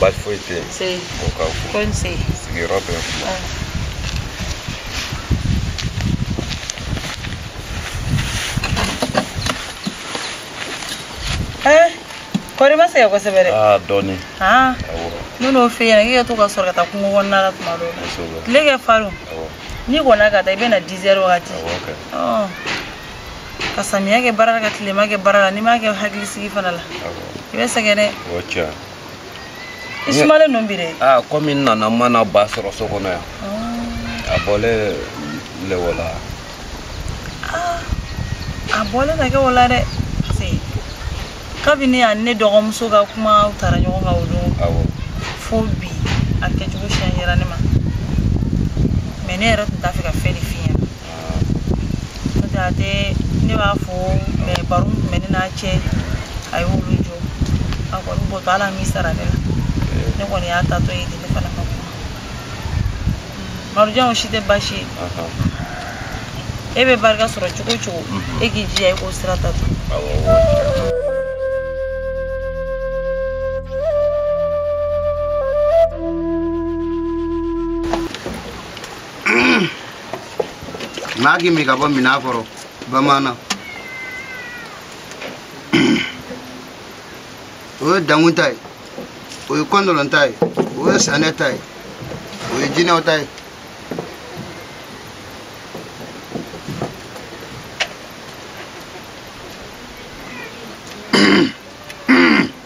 baasi foyi tɛ yen o ka ko sigiyɔrɔ bɛ kuma kɔri i ma sɛgɛn kosɛbɛ dɛ dɔɔni ne n'o f'i ɲɛna k'i ka to ka soli ka taa kungo kɔnɔna la tuma dɔw la tile ka farin n'i kɔnna ka taa i bɛ na dizɛri wagati ka samiya kɛ baara la ka tilema kɛ baara la n'i m'a kɛ hakilisigi fana la i bɛ sɛgɛn dɛ o cɛ i sumalen don bi dɛ aa kɔmi n nana n ma n ba sɔrɔ so kɔnɔ yan a bɔlen le o la a bɔlen na kɛ o la dɛ kabini a ni ne dɔgɔmuso ka kuma tara ɲɔgɔn kan o don fo bi a kɛcogo siɲɛ yɛra ne ma mɛ ne yɛrɛ tun t'a fɛ ka fɛn de f'i ye Jate ne b'a fɔ baro tun bɛ ne n'a cɛ a y'o lajɔ a kɔni bɔtɔ ale m'i sara ne la ne kɔni y'a taatɔ ye ne fana ka kuma Marijan o si tɛ baasi ye e bɛ barika sɔrɔ cogo cogo e k'i jija i k'o sira ta to maa k'i min ka bɔ minan kɔrɔ bamanan o ye dankun ta ye o ye kɔndɔlɔn ta ye o ye sanɛ ta ye o ye jinɛw ta ye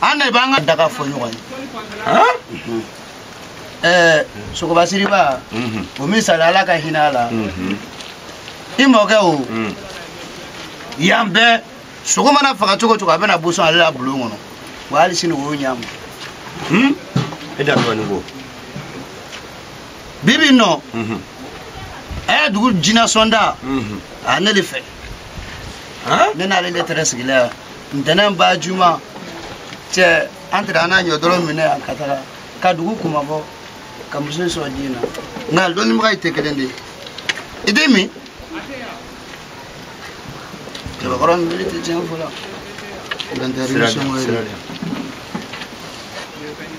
an de b'an ka daga fɔ ɲɔgɔn ye ɛɛ sogoba siriba o misali ala ka hinɛ a la i mɔkɛ o yan bɛɛ sogo mana faga cogo cogo a bɛna boso ale la bulon kɔnɔ wa hali sini o y'o ɲɛ ma e dansogo ni ko bibi nɔ ɛ dugu jinasɔnda a ne de fɛ ne n'ale de tɛrɛ sigila yan ntɛnɛn ba juma cɛ an tɛrɛ an n'a ɲɔdɔrɔ minɛ yan ka taga ka dugu kunmabɔ ka muso in sɔrɔ diɲɛ na nka dɔnnibaga ye tɛ kelen de ye i den min cɛbakɔrɔ min bere tɛ tiɲɛ fɔ la sira de sira de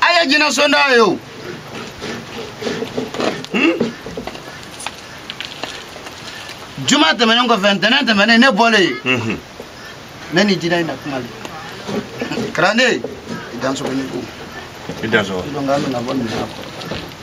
a ye jinɛsɔnda ye o juma tɛmɛnen kɔfɛ ntɛnɛn tɛmɛnen ne bɔlen yen ne ni jinɛ in na kuma le kalanden i dansogo ni ko i dansogo dɔnki an bɛna bɔ nin na kɔrɔ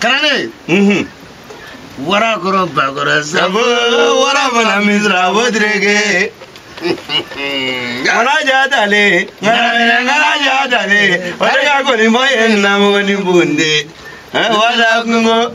kalanden Mhm. wara kɔrɔ ba kɔrɔ Sabo sabo wara fana misira o direge. Kana ja tale, kana minɛ kana ja tale, o de ka kɔni bɔ ye namu ni bonde. Wala kungo.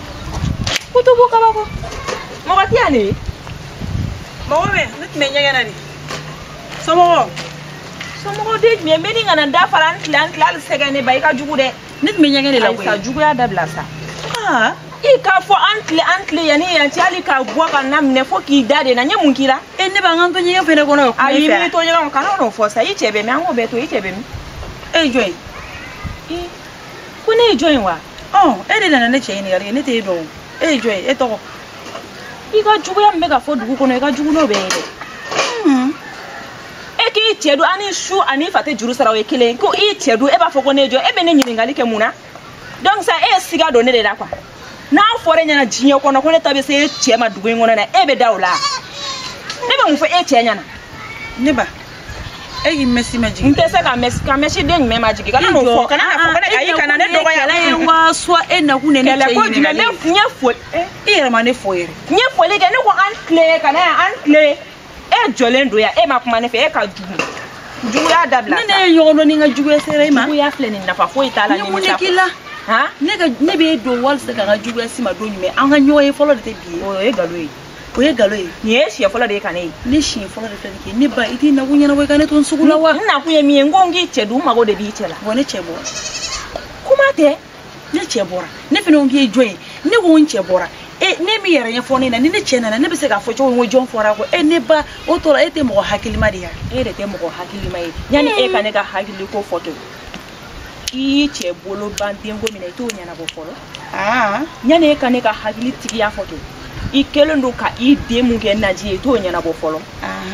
kutubu kabako mɔgɔ tɛ yan de ye mɔgɔ bɛ ne tun bɛ ɲɛgɛn na de somɔgɔ somɔgɔ den tun ye n bɛ ni kana da fara n tila n tila hali sɛgɛn nɛba i ka jugu dɛ ne tun bɛ ɲɛgɛn de la koyi sa juguya dabila sa ah. i k'a fɔ an tile an tile yanni yan cɛ hali ka bɔ ka n laminɛ fo k'i da de n na n ye mun k'i la e nɛba n ka n to ɲɛgɛn fɛnɛ kɔnɔ o ayi n bɛ to ɲɛgɛn kɔnɔ kana n'o fɔ sa i cɛ bɛ min an k'o bɛɛ to i cɛ bɛ min e jɔn ye ko ne ye jɔn ye wa ɔn e de nana ne cɛ ɲininkali kɛ ne t'e dɔn o e ye jɔn ye e tɔgɔ i ka juguya min bɛ ka fɔ dugu kɔnɔ i ka jugu n'o bɛ ye dɛ e k'i cɛ dun ani su ani fa tɛ juru sara o ye kelen ko i cɛ dun e b'a fɔ ko ne ye jɔn e bɛ ne ɲininkali kɛ mun na donc sa e ye siga don ne de la quoi n'a fɔra e ɲɛna diɲɛ kɔnɔ ko ne ta bɛ se e cɛ ma dugu in kɔnɔ na e bɛ da o la ne bɛ mun fɔ e cɛ ɲɛna nɛba e k'i mɛsi majigin n tɛ se ka mɛsi ka mɛsi den jumɛn majigin kana n'o fɔ kana n'a fɔ kana ayi kana ne dɔgɔya kɛlɛ ye wa suwa e nakun de ne cɛ ɲinɛna kɛlɛ ko jumɛn ne n ye foli i yɛrɛ ma ne fo yɛrɛ n ye foli kɛ ne ko an tile ka na yan an tile e jɔlen don yan e ma kuma ne fɛ e ka jugu juguya dabila ne n'e ye ɲɔgɔn dɔn ni n ka juguya sera i ma juguya filɛ nin nafa foyi t'a la ne mun de k'i la ne ka ne bɛ e dɔn walisa ka n ka juguya se i ma don jumɛn an ka ɲɔgɔn ye fɔlɔ de tɛ bi ye o ye nkalon ye o ye nkalon ye nin ye siɲɛ fɔlɔ de ye ka ne ye ne siɲɛ fɔlɔ de filɛ nin kɛ nɛba i t'i nakun ɲɛnabɔ i ka ne to n sago la wa n nakun ye min ye n ko n k'i cɛ dun n mago de b'i cɛ la wa ne cɛ bɔ kuma tɛ ne cɛ bɔra ne fana ko k'i ye jɔn ye ne ko n cɛ bɔra e de m'i yɛrɛ ɲɛfɔ ne na ni ne cɛ nana ne bɛ se k'a fɔ cogo min ko jɔn fɔr'a kɔ e nɛba o tɔ la e tɛ mɔgɔ hakilima de ye e de tɛ mɔgɔ hakilima ye yanni e ka ne ka hakili ko fɔ to i y'i cɛ bolo ban denko min na i t'o ɲɛnabɔ fɔlɔ yanni e ka ne ka hakili tigiya fɔ to i kɛlen don ka i denw kɛ naji ye i t'o ɲɛnabɔ fɔlɔ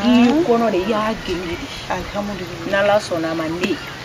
i kɔnɔ de i y'a genge de n'ala sɔnna a ma ne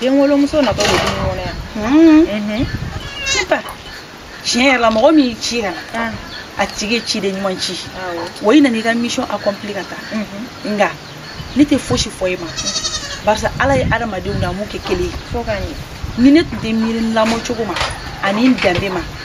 den wolomuso natɔ de du in kɔnɔ yan mhm. nɛba tiɲɛ yɛrɛ la mɔgɔ min y'i ci ka na a tigi ye ciden ɲuman ci wa i nana i ka mission accompli ka taa mhm. nka ne tɛ fosi fɔ i ma parce que ala ye adamadenw dan a m'u kɛ kelen ye ni ne tun tɛ miiri n lamɔcogo ma ani n danbe ma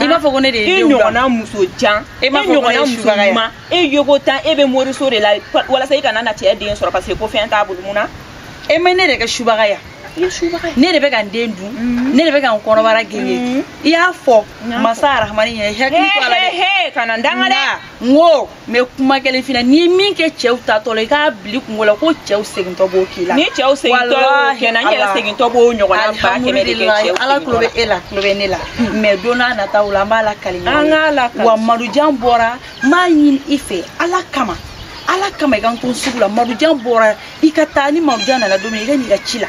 i m'a fɔ ko ne de ye denw bila i ɲɔgɔnna muso jan e m'a fɔ ko ne ye subaga ye e yoko tan e bɛ moriso de la walasa i kana na cɛ den sɔrɔ parce que ko fɛn t'a bolo mun na e ma ne de kɛ subaga ye ne de bɛ ka n den dun mm-hmm. ne de bɛ ka n kɔnɔbara genge mm-hmm. i y'a fɔ masa arahamani ɲɛ hakili to a la dɛ kana n danga dɛ n ko mɛ kuma kelen fina n'i ye min kɛ cɛw taatɔ la i k'a bili kungo la ko cɛw segintɔ b'o k'i la ni cɛw segintɔ y'o kɛ n na n yɛrɛ segintɔ b'o ɲɔgɔnna ba kɛmɛ de kɛ cɛw la tulo bɛ e la tulo bɛ ne la mɛ don nataw la an b'a lakali ɲɔgɔn an k'a lakali wa madujan bɔra n b'a ɲini i fɛ ala kama ala kama i ka n to sugu la madujan bɔra i ka taa ni madujan nana don min i ka n'i ka ci la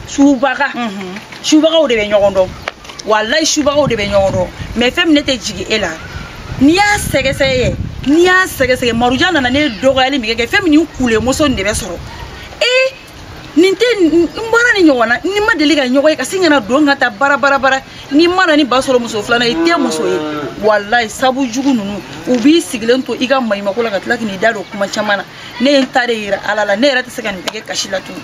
subaga mhm. subagaw de bɛ ɲɔgɔn dɔn walayi subagaw de bɛ ɲɔgɔn dɔn mɛ fɛn min ne tɛ jigin e la n'i y'a sɛgɛsɛgɛ yɛ n'i y'a sɛgɛsɛgɛ madujan nana ne dɔgɔyali min kɛ fɛn min nin kule muso nin de bɛ sɔrɔ ee nin tɛ n bɔra ni ɲɔgɔn na ni ma deli ka ɲɔgɔn ye ka sin kana don ka taa bara bara bara n'i ma na ni ba sɔrɔ muso filanan i tɛ muso ye walayi sabu jugu ninnu u b'i sigilen to i ka maɲumako la ka tila k'i da don kuma caman na ne ye n ta de yira ala la ne yɛrɛ tɛ se ka nin bɛɛ kɛ kasi la tuguni